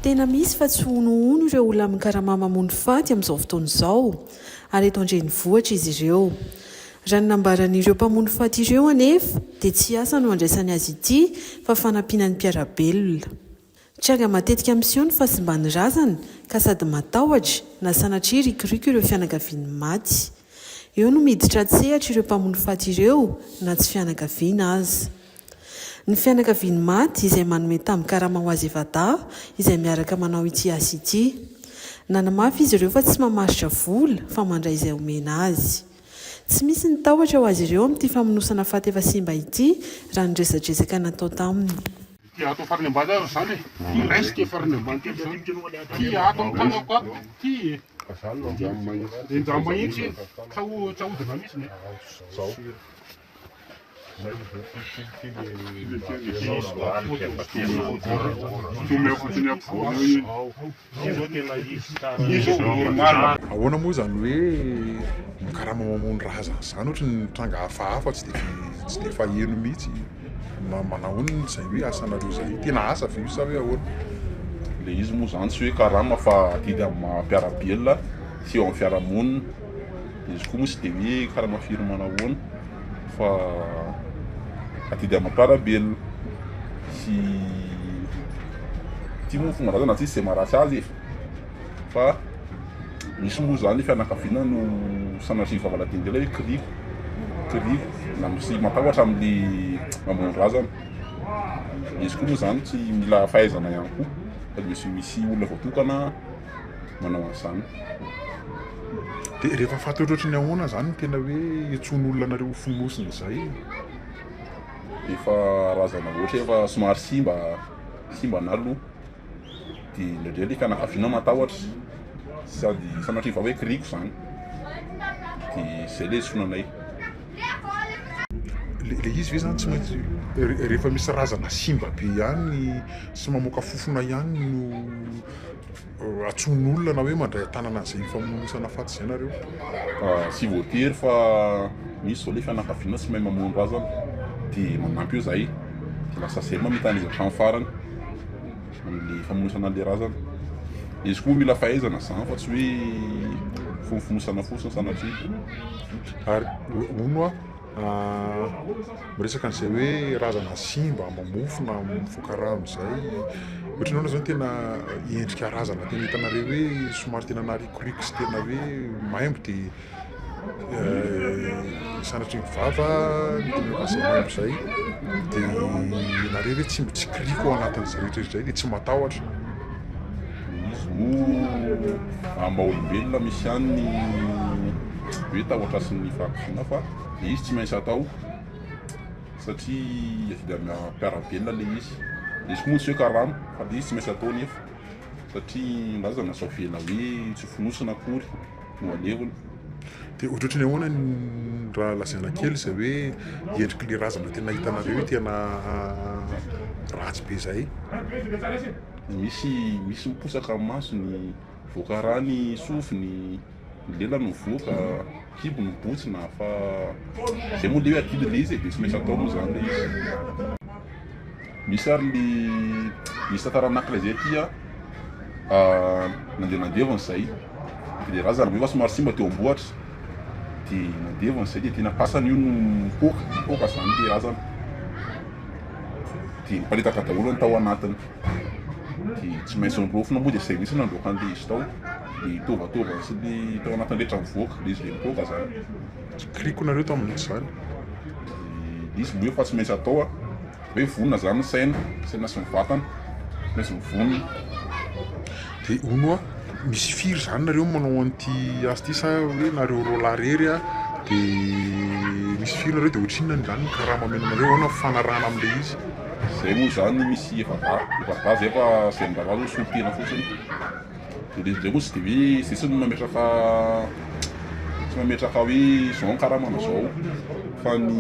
Tena misy fa tsy honohono ireo olona mikarama mamono faty amin'izao fotoana izao, ary eto an-drenivohitra izy ireo. Raha ny nambaran'ireo mpamono faty ireo anefa dia tsy asa no andraisany azy ity fa fanampiana ny mpiara-belona. Tranga matetika miseho ny fahasimban'ny razana ka sady matahotra na sanatria rikoriko ireo fianakavian'ny maty. Eo no miditra an-tsehatra ireo mpamono faty ireo na tsy fianakaviana aza. Ny fianakavian'ny maty izay manome tambin-karama ho azy Evadaha izay miaraka manao ity asa ity. Nanamafy izy ireo fa tsy mamaritra vola fa mandray izay omena azy. Tsy misy ny tahotra ho azy ireo amin'ity famonosana faty efa simba ity raha ny resadresaka natao taminy. Ity ato farany ambany ary izany e! Ity raisiko e! Farany ambany kely izany. Ity ato amin'ny tanako ato ity e! Enjano mahitsy e! Tsa hodina mihitsy ny e! Ahoana moa izany hoe mikarama mamono razana izany? Ohatry ny tranga hafahafa tsy dia faheno mihitsy. Manahoana izay hoe asanareo izay? Tena asa ve io sa hoe ahoana? Ilay izy moa izany tsy hoe karama fa adidy amin'ny maha-mpiara-belona sy eo amin'ny fiarahamonina. dia izy koa moa tsy dia hoe karama firy manahoana fa adidy aman-karabelona sy ity moa fomba razana tsy izy tsy maharatsy azy e fa misy moa zany fianakaviana no sanatria vavaladidy indray hoe kiriko kiriko na misy matahotra amin'ny mamono razana izy koa moa zany tsy mila fahaizana ihany koa fa misy misy olona voatokana manao an'izany. Dia rehefa faty ohatrohatry ny ahoana izany no tena hoe hitsony olona anareo ho fonosina izay? Efa razana loatra, efa somary simba, simba ny loha. Dia indraindray ilay fianakaviana matahotra, sady sanatria vao hoe kiriko izany. Dia izay ilay hitsony anay. Ilay izy ve izany tsy maintsy rehefa misy razana simba be ihany sy mamoaka fofona ihany no. atsoin' olona na hoe mandray an-tanana an'izay famonoan-tsana faty izay nareo. Tsy voatery fa misy zao le fianakaviana tsy mahay mamono razana dia manampy eo zahay dia lasa zay mamitana izy hatramin'ny farany amin'ny famonoan-tsana an'ilay razana. Izy koa mila fahaizana izany fa tsy hoe fonofonoan-tsana fotsiny sanatria. Ary hono aho. Miresaka an'izay hoe razana simba, amam-bofo na mivoaka rano izay. Ohatry ny hoe izany tena endrika razana tena hitanareo hoe somary tena narikoriko sy tena hoe maimbo dia sanatria ny vava izay dia ianareo ve tsy mitsikoriko ao anatin'izay rehetra izay dia tsy matahotra. Izy no amin'ny maha olombelona misy ihany ny hoe tahotra sy ny fahakiviana fa dia izy tsy maintsy atao satria avy amin'ny mpiara-belona ilay izy. Izy moa tsy hoe karama fa ilay izy tsy maintsy atao nefa satria na aza sao avela hoe tsy fonosina akory no alevina. Dia ohatrohatry ny ahoana ny raha lazaina kely izay hoe endrik'ilay razana tena hitanareo ity anà ratsy be izay? Misy misy miposaka amin'ny masony, mivoaka rà ny sofiny, ny lelany mivoaka, kibo ny botsina fa izay moa le hoe adidy le izy e, dia tsy maintsy atao moa izany le izy. Misy ary ny misy tantara anankiray izay aty a, nandeha nandevona izahay dia ilay razana angamba somary simba teo am-bohitra dia nandevona izahay dia tena fasana io no nipoaka, nipoaka izany ilay razana. dia niparitaka daholo ny tao anatiny, dia tsy maintsy niraofina moa dia izay mihitsy nandroaka an'ilay izy tao, dia ny tovatovany sy ny tao anatiny rehetra nivoaka, dia izy dia nipoaka izany. Kiliko nareo tamin'izany. Dia izy moa efa tsy maintsy atao a, hoe vonona izany ny saina, saina sy ny vatana, tsy maintsy mivonona. Dia hono hoa misy firy izany nareo no manao an'ity asa ity sa hoe nareo roa lahy irery an? Dia misy firy nareo dia ohatrinona any izany ny karama omena anareo? Ahoana ny fifanarahana amin'ilay izy? Izay moa izany no misy efa va, efa va izay fa izay miraharaha izao solon-tena fotsiny. Dia ilay izy indray moa tsy dia hoe izay tsy no mametraka tsy mametraka hoe izao ny karamana izao fa ny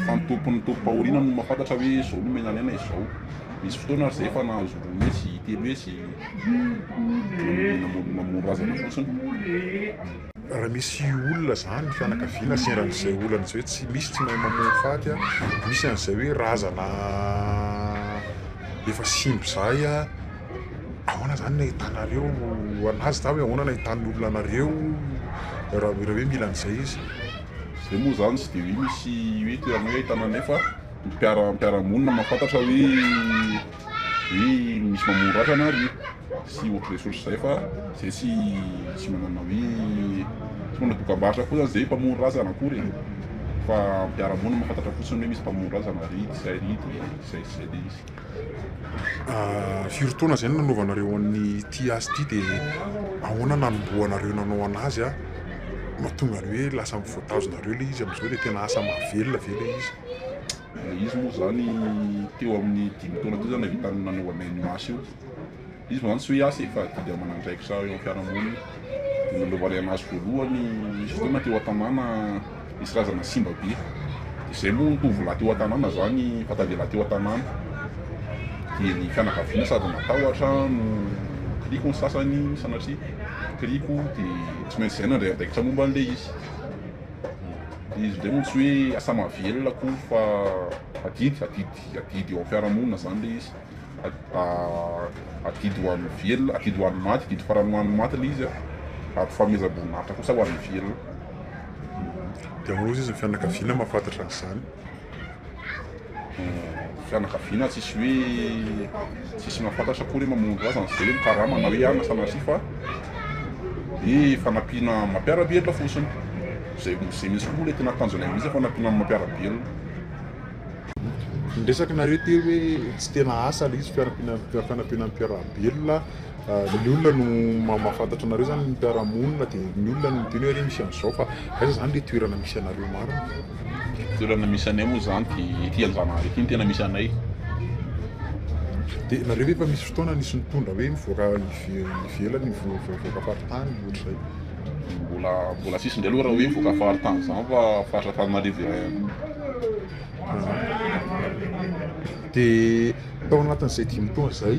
fa ny tompom-pahoriana no mahafantatra hoe izao no omena anay na izao. Nisy fotoana ary izay efa nahazo roa hetsy, telo hetsy namono namono razana fotsiny. Raha misy olona izany ny fianakaviana sendra an'izay olana izay hoe tsy misy tsy mahay mamono faty, misy an'izay hoe razana efa simba izay, ahoana izany no ahitanareo an'azy sa hoe ahoana no ahitan'ny olona anareo raha hoe mila an'izay izy? Izay moa izany tsy dia hoe misy hoe toerana hoe ahitana an'izay fa. mpiara mpiara-monina mahafantatra hoe hoe misy mamono ratra na ry sy ohatr'izay sotry izay fa izay tsy tsy manana hoe tsy manana dokam-barotra koa zany izay mpamono razana akory e fa mpiara-monina mahafantatra fotsiny hoe misy mpamono razana ry izay ry de izay sy izay de izy Ah, firy taona izay no nanaovanareo an'ity asa ity dia ahoana nanombohanareo nanao anazy ah? Mahatonga ny hoe lasa voatazonareo ilay izy amin'izao dia tena asa mahavelona ve ilay izy? Izy moa izany teo amin'ny dimy taona teo izany nahavita nanao anay ny asa io. Izy moa izany tsy hoe asa e fa didy aman'andraikitra eo amin'ny fiarahamonina. Dia nanaovanay anay azy voalohany nisy fotoana teo an-tanàna nisy razana simba be. Dia izay moa ny tovolahy teo an-tanàna izany efa tavela teo an-tanàna. Dia ny fianakaviana sady natahotra no nikiriko ny sasany sanatria nikiriko dia tsy maintsy izay nandray andraikitra momba an'ilay izy. Izy indray moa tsy hoe asa mahavelona akory fa adidy, adidy, adidy eo amin'ny fiarahamonina izany ilay izy. Adidy ho an'ny velona, adidy ho an'ny maty, adidy farany ho an'ny maty ilay izy. Ary fanomezam-boninahitra kosa ho an'ny velona. Dia hoy izy ny fianakaviana mahafantatra an'izany. fianakaviana tsisy hoe tsisy mahafantatra akory hoe mamono ra zany zay ny karama na hoe anona sanatria fa ny fanampiana mampiara-belona fotsiny zay zay mihitsy koa moa le tena tanjonay mihitsy fanampiana mampiara-belona Niresaka nareo teo hoe tsy tena asa ilay izy fiarampiana fanampiana mampiara-belona ny olona no ma- mahafantatra anareo zany ny mpiara-monina dia ny olona no miteny hoe re misy an'izao fa aiza zany le toerana misy anareo marina Toerana misy anay moa izany dia ety Anjanahary ety no tena misy anay. Dia nareo ve efa misy fotoana nisy nitondra hoe mivoaka ivelany, mivoaka faritany ohatr'izay? Mbola mbola tsisy indray aloha raha hoe mivoaka faritany izany fa faritra Antananarivo iray ihany. Dia tao anatin'izay dimy taona izay,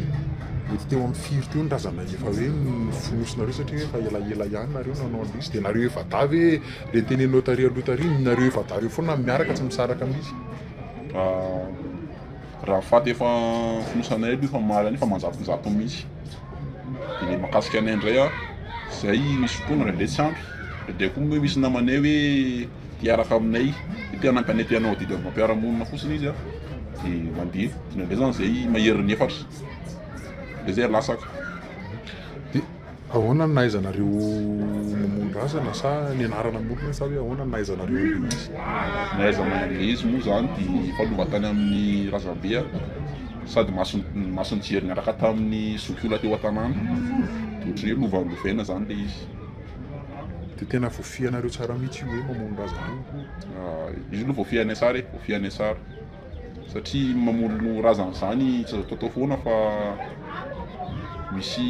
mety teo amin'ny firy teo ny razana efa hoe nofonosinareo satria hoe efa elaela ihany nareo no nanao an'ilay izy? Dia nareo efa-dahy ve Dia tenenino tary aloha tary ny nareo efa adala eo foana miaraka tsy misaraka mihintsy. Raha faty efa fonosanay aloha efa omaly any efa manjatonjato mihintsy. Dia ny mahakasika anay indray an, izay misy fotoana indraindray tsy ampy, indraindray koa moa misy namanay hoe te hiaraka aminay, hoe te hanampy anay te hanao adidy amim-pampiarahamonina fotsiny izy an, dia mandeha. Indraindray izany izay maherin'ny efatra, dia izay latsaka. Ahoana no nahaizanareo mamono razana sa ny anarana monina sa hoe ahoana no nahaizanareo anglisy? Ny ahaizana anglisy moa izany dia efa lova tany amin'ny razambe sady mason'ny mason'ny jery niaraka tamin'ny zokiolona teo an-tanàna. Dia ohatran'ny hoe lova lovaina izany ilay izy. Dia tena voafihanareo tsara mihitsy io hoe mamono razana io? Io aloha voafihanay tsara e, voafihanay tsara. satria mamolony razana izany tsy azo ataotao foana fa misy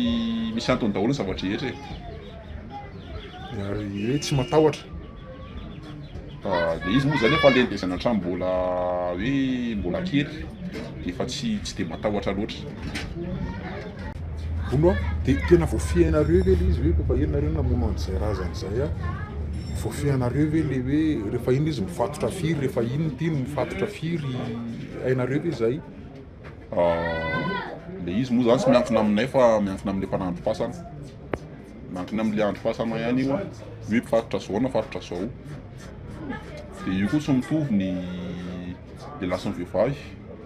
misy antony daholo ny zava-drehetra e ary hoe tsy matahotra dia izy moa izany efa aleny dia izany hatramin'ny mbola hoe mbola kely dia efa tsy tsy dia matahotra loatra Vono a! Dia tena voafehinareo ve ilay izy hoe koa inona nareo namono an'izay razana izay a! Voafehinareo ve ilay hoe rehefa iny izy mifatotra firy, rehefa iny ity no mifatotra firy, hainareo ve izay? Ilay izy moa izany tsy miankina aminay fa miankina amin'ilay mpanandro fasana. Miankina amin'ilay andro fasana ihany io an, hoe mifatotra izao na mifatotra izao. Dia io koa tsy mitovy ny ilay lasin'ny vehivavy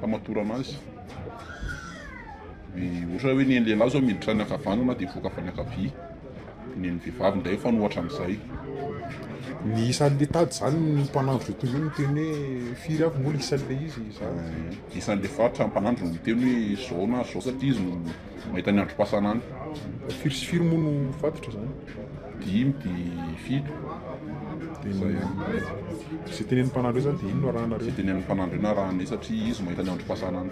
famatorana azy. Ohatra hoe ny an'ny lehilahy izao miditra any ankavanana dia hivoaka avy any ankavia, ny an'ny vehivavy indray mifanohatra amin'izay. Ny isan'ny le tady izany ny mpanandro izay tontolo izay miteny hoe firy avy moa le isan'ilay izy izany? Isan'ilay faritra mpanandro no miteny hoe izao na izao satria izy no... Mahita ny androm-pasana any. Firy sy firy moa no fatotra zany? Dimy de fito. De zay ihany. Zay tenenin'ny mpanandro zany de iny no arahanareo. Zay tenenin'ny mpanandro iny arahanay satria izy mahita ny androm-pasana any.